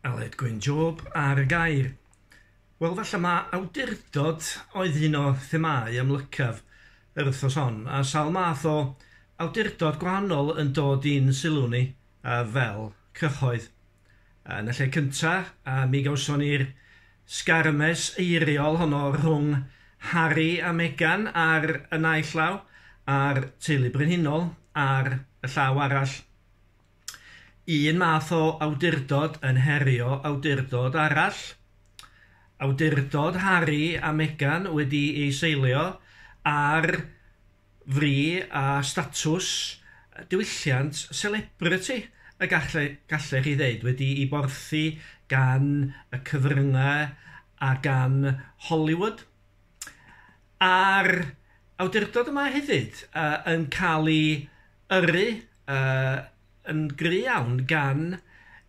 Aled Gwyn Job ar y gair. Wel, falle mae awdurdod oedd un o themâu amlycaf yr wythnos hon, a sawl math o awdurdod gwahanol yn dod i'n sylw ni uh, fel cyhoedd. Uh, yn y lle cyntaf, uh, mi gawson ni'r sgarmes eiriol honno rhwng Harry a Meghan ar y naill law, a'r teulu brenhinol ar y llaw arall. un math o awdurdod yn herio awdurdod arall. Awdurdod Harry a Meghan wedi ei seilio ar fri a statws diwylliant selebriti y galle, gallech chi ddeud, wedi'i borthi gan y cyfryngau a gan Hollywood. a'r awdurdod yma hefyd yy yn cael ei yrru yy yn gry' iawn gan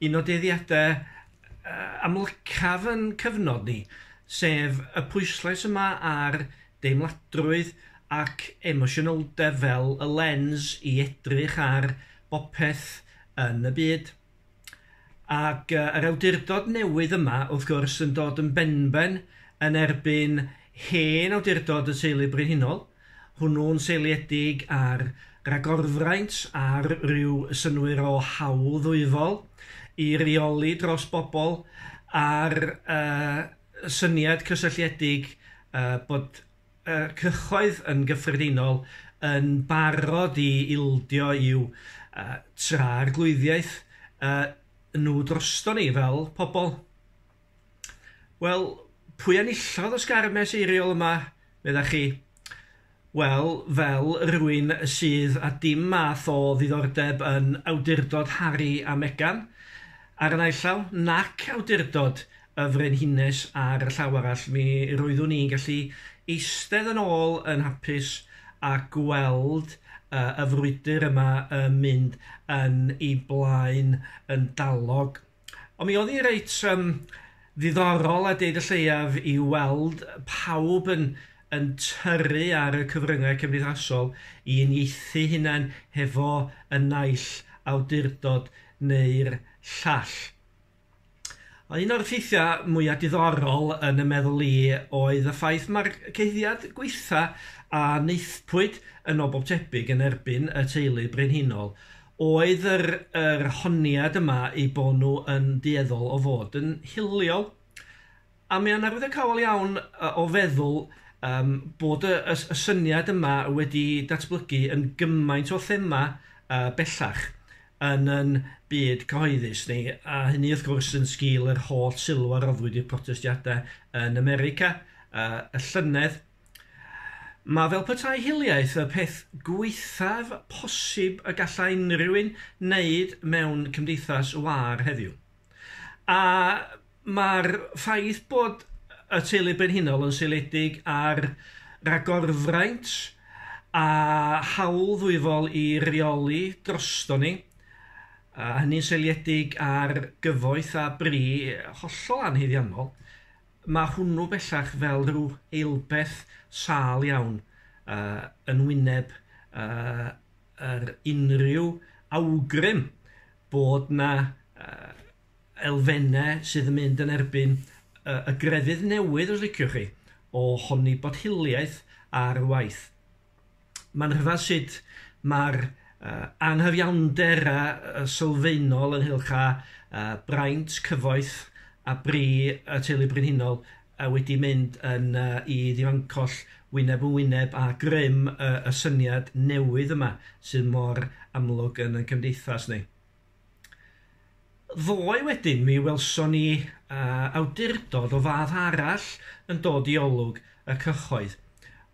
un o dueddiadau yy amlycaf yn cyfnod ni, sef y pwyslais yma ar deimladrwydd ac emosiynoldeb fel y lens i edrych ar bopeth yn y byd. Ac yy yr awdurdod newydd yma wrth gwrs yn dod yn benben yn erbyn hen awdurdod y teulu brenhinol, hwnnw'n seiliedig ar ragorfraint ar ryw synnwyr o hawl ddwyfol i reoli dros bobl a'r yy syniad cysylltiedig yy bod y cyhoedd yn gyffredinol yn barod i ildio i'w tragwyddiaeth nhw droston ni fel pobl. Wel, pwy enillodd y sgarmes eiriol yma, meddach chi? Wel, fel rwy'n sydd â dim math o ddiddordeb yn awdurdod Harri a Megan, ar y naill law, nac awdurdod y Frenhines ar y llaw arall, mi roeddwn i'n gallu eistedd yn ôl yn hapus a gweld yy y frwydr yma yn mynd yn ei blaen yn dalog. Ond mi oedd hi reit um, ddiddorol a deud y lleiaf i weld pawb yn yn tyrru ar y cyfryngau cymdeithasol i unieithu hunain hefo y naill awdurdod neu'r llall. Un o'r ffeithiau mwyaf diddorol yn y meddwl i oedd y ffaith mae'r cyhuddiad gweitha a wnaethpwyd yn ôl bob tebyg yn erbyn y teulu brenhinol oedd yr yr honiad yma eu bod nhw yn dueddol o fod yn hiliol. A mae o'n arwyddocaol iawn o feddwl yym bod y y y syniad yma wedi datblygu yn gymaint o thema yy bellach yn yn byd cyhoeddus ni, a hynny wrth gwrs yn sgil yr holl sylw a roddwyd i'r protestiadau yn America yy y llynedd. Mae fel petai hiliaeth y peth gwaethaf posib y gallai unrhyw un wneud mewn cymdeithas wâr heddiw. A mae'r ffaith bod y teulu brenhinol yn seiliedig ar ragorfraint a hawl ddwyfol i reoli drosto ni, a hynny'n seiliedig ar gyfoeth a bri hollol anhaeddiannol, mae hwnnw bellach fel rhyw eilbeth sâl iawn uh, yn wyneb uh, yr unrhyw awgrym bod 'na elfennau sydd yn mynd yn erbyn y grefydd newydd, os liciwch chi, o honni bod hiliaeth ar waith. Mae'n rhyfedd sut mae'r anghyfiawnder a sylfaenol ynghylch â braint, cyfoeth a bri y Teulu Brenhinol a wedi mynd yn yy i ddifancoll wyneb yn wyneb â grym y y syniad newydd yma sydd mor amlwg yn 'yn cymdeithas ni. Ddoe wedyn mi welson ni yy awdurdod o fath arall yn dod i olwg y cyhoedd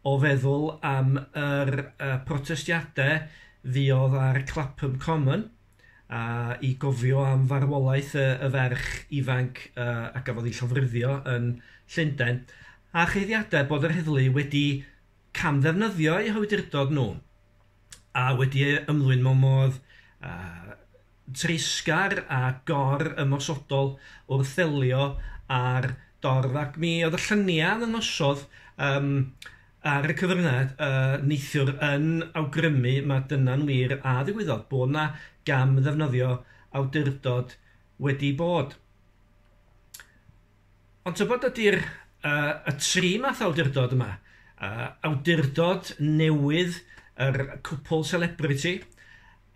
o feddwl am yr yy protestiade fuodd ar Clapham Common, a i gofio am farwolaeth y, y ferch ifanc uh, a gafodd ei llofruddio yn Llundain, a cheiddiadau bod yr heddlu wedi camddefnyddio eu hawdurdod nhw a wedi ymlwyn mewn modd uh, treisgar a gor ymosodol wrth ddelio â'r dorf ac mi oedd y lluniau yn nosodd um, ar y cyfryngau yy neithiwr yn awgrymu ma' dyna'n wir a ddigwyddodd, bod 'na gam ddefnyddio awdurdod wedi bod. Ond tybed ydy'r uh, y tri math awdurdod yma, uh, awdurdod newydd yr cwpl celebrity,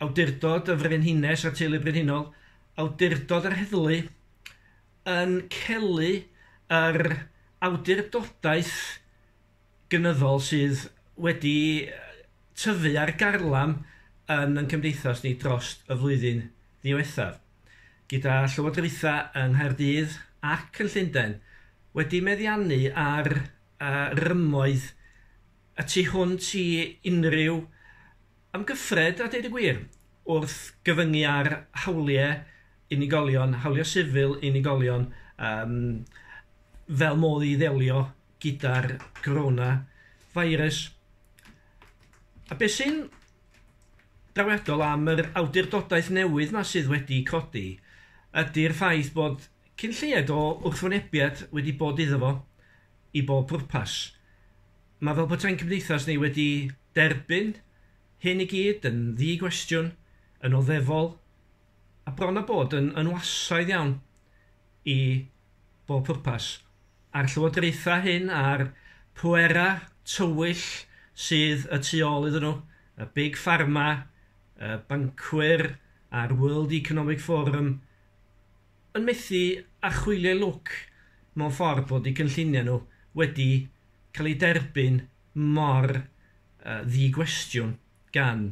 awdurdod y frenhines a'r teulu brenhinol, awdurdod yr heddlu, yn celu yr awdurdodaeth gynyddol sydd wedi tyfu ar garlam yn yn cymdeithas ni dros y flwyddyn ddiwethaf, gyda llywodraethau yng Nghaerdydd ac yn Llundain wedi meddiannu ar rymoedd y tu hwnt i unrhyw amgyffred a deud y gwir, wrth gyfyngu ar hawliau unigolion, hawliau sifil unigolion, yym, fel modd i ddelio gyda'r corona virus. A beth sy'n drawiadol am yr awdurdodaeth newydd yma sydd wedi codi ydy'r ffaith bod cyn lleied o wrthwynebiad wedi bod iddo fo i bob pwrpas. Mae fel peta'n cymdeithas ni wedi derbyn hyn i gyd yn ddi-gwestiwn, yn oddefol, a bron a bod yn yn wasaidd iawn i bob pwrpas. A'r llywodraethau hyn a'r pwerau tywyll sydd y tu ôl iddyn nhw, y big pharma, y bancwyr a'r World Economic Forum, yn methu â chwilio lwc mewn ffordd bod eu cynlluniau nhw wedi cael eu derbyn mor ddi-gwestiwn gan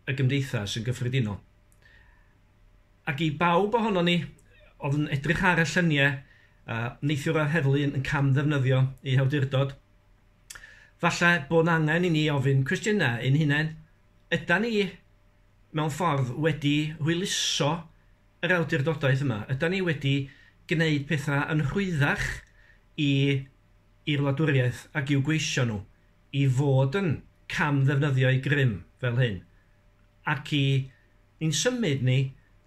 y gymdeithas yn gyffredinol. Ac i bawb ohonon ni oedd yn edrych ar y lluniau neithiwr a'r heddlu yn cam-ddefnyddio eu hawdurdod, falle bod yn angen i ni ofyn cwestiynau ein hunain, ydan ni mewn ffordd wedi hwyluso yr awdurdodaeth yma? Ydan ni wedi gwneud pethau yn rhwyddach i i'r wladwriaeth ac i'w gweision nhw i fod yn cam-ddefnyddio'u grym fel hyn, ac i ni'n symud ni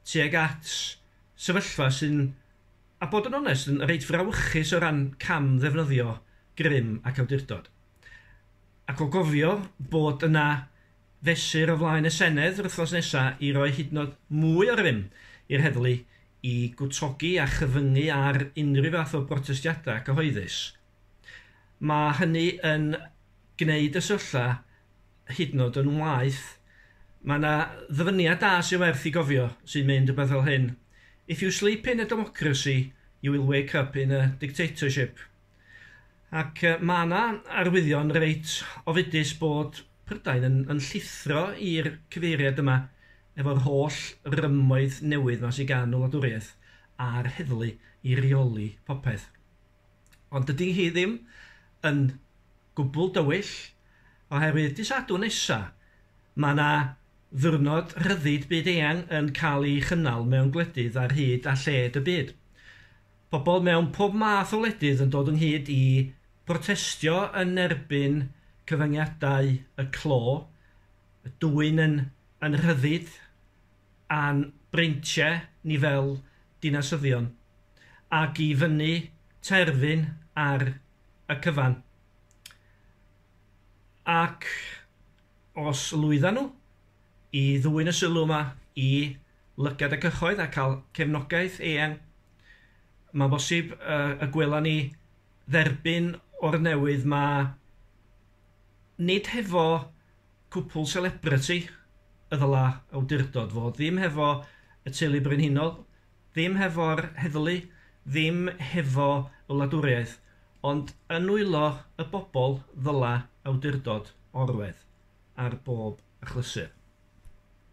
tuag at sefyllfa sy'n, a bod yn onest, yn reit frawychus o ran cam-ddefnyddio grym ac awdurdod? Ac o gofio bod yna fesur o flaen y Senedd yr wythnos nesa i roi hyd yn o'd mwy o rym i'r heddlu i gwtogi a chyfyngu ar unrhyw fath o brotestiada cyhoeddus, ma' hynny yn gneud y sefyllfa hyd yn o'd yn waeth. Ma' 'na ddyfyniad da sy werth 'i gofio sy'n mynd rwbeth fel hyn, If you sleep in a democracy, you will wake up in a dictatorship. Ac yy ma' 'na arwyddion reit ofidus bod Prydain yn yn llithro i'r cyfeiriad yma efo'r holl rymoedd newydd 'ma sy gan y wladwriaeth a'r heddlu i reoli popeth. Ond dydi hi ddim yn gwbwl dywyll oherwydd dy' Sadwrn nesa ma' 'na ddiwrnod rhyddid byd-eang yn cael ei chynnal mewn gwledydd ar hyd a lled y byd. Pobl mewn pob math o wledydd yn dod ynghyd i brotestio yn erbyn cyfyngiadau y clo, y dwyn yn yn rhyddid a'n breintiau ni fel dinasyddion, ac i fynnu terfyn ar y cyfan. Ac os lwyddan nhw? i ddwyn y sylw yma i lygad y cyhoedd a cael cefnogaeth eang. Mae'n bosib y gwela ni dderbyn o'r newydd 'ma, nid hefo cwpwl selebriti y ddylai awdurdod fod, ddim hefo y teulu brenhinol, Ddim hefo'r heddlu, ddim hefo y wladwriaeth, ond yn nwylo y bobl ddyla awdurdod orwedd ar bob achlysur.